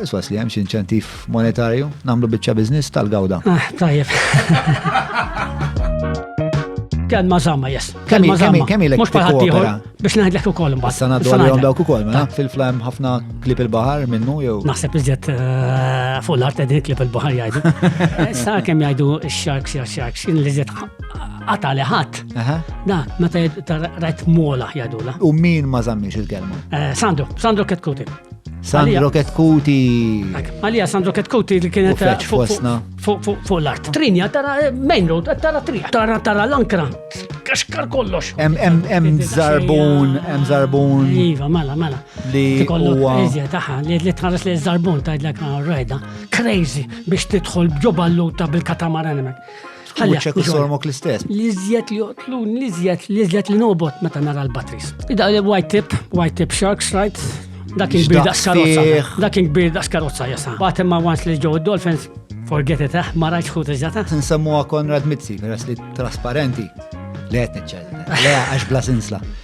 Iswas li hemm xi inċentiv monetarju nagħmlu biċċa biżniss tal-gawda. Ah, tajjeb. Kelma zamma, yes. Kelma zamma. Kemm ilek Mhux bħal ieħor biex ngħidlek ukoll imbagħad. Sa ngħaddu għalihom dawk ukoll, mela fil-flam ħafna klip il-baħar minnu jew. Naħseb iżjed eh, fuq l-art qegħdin klip il-baħar jgħidu. Sa kemm jgħidu x-sharks ja sharks, li iżjed qata li ħadd. Da, meta rajt mola jadula. U min ma zammix il-kelma? Eh, Sandro, Sandro Ketkuti. Sandro Ketkuti. Għalija Sandro Ketkuti li kienet eh, fuq l-art. Trinja, tara eh, main road, tara trinja, tara tara l-ankra. Kaxkar kollox. Em zarbun, em zarbun. Iva, mala, mala. Li huwa. Iżja taħħa, li tħares li zarbun tajdlek rajda. Crazy biex tidħol bġoballuta bil-katamaran emek. Ħalli ċek isormok l-istess. L-iżjed li joqtlun, l-iżjed, l-iżjed li nobot meta nara l-batteries. Ida li white tip, white tip sharks, right? Dak il-bir daqs karozza. Dak il-bir daqs karozza jasa. Batem ma once li ġew id-dolphins, forget it, eh, ma rajt xħut iżjata. Nsemmuha Konrad Mizzi, peress li trasparenti. Le qed niċċellem. Le għax bla sinsla.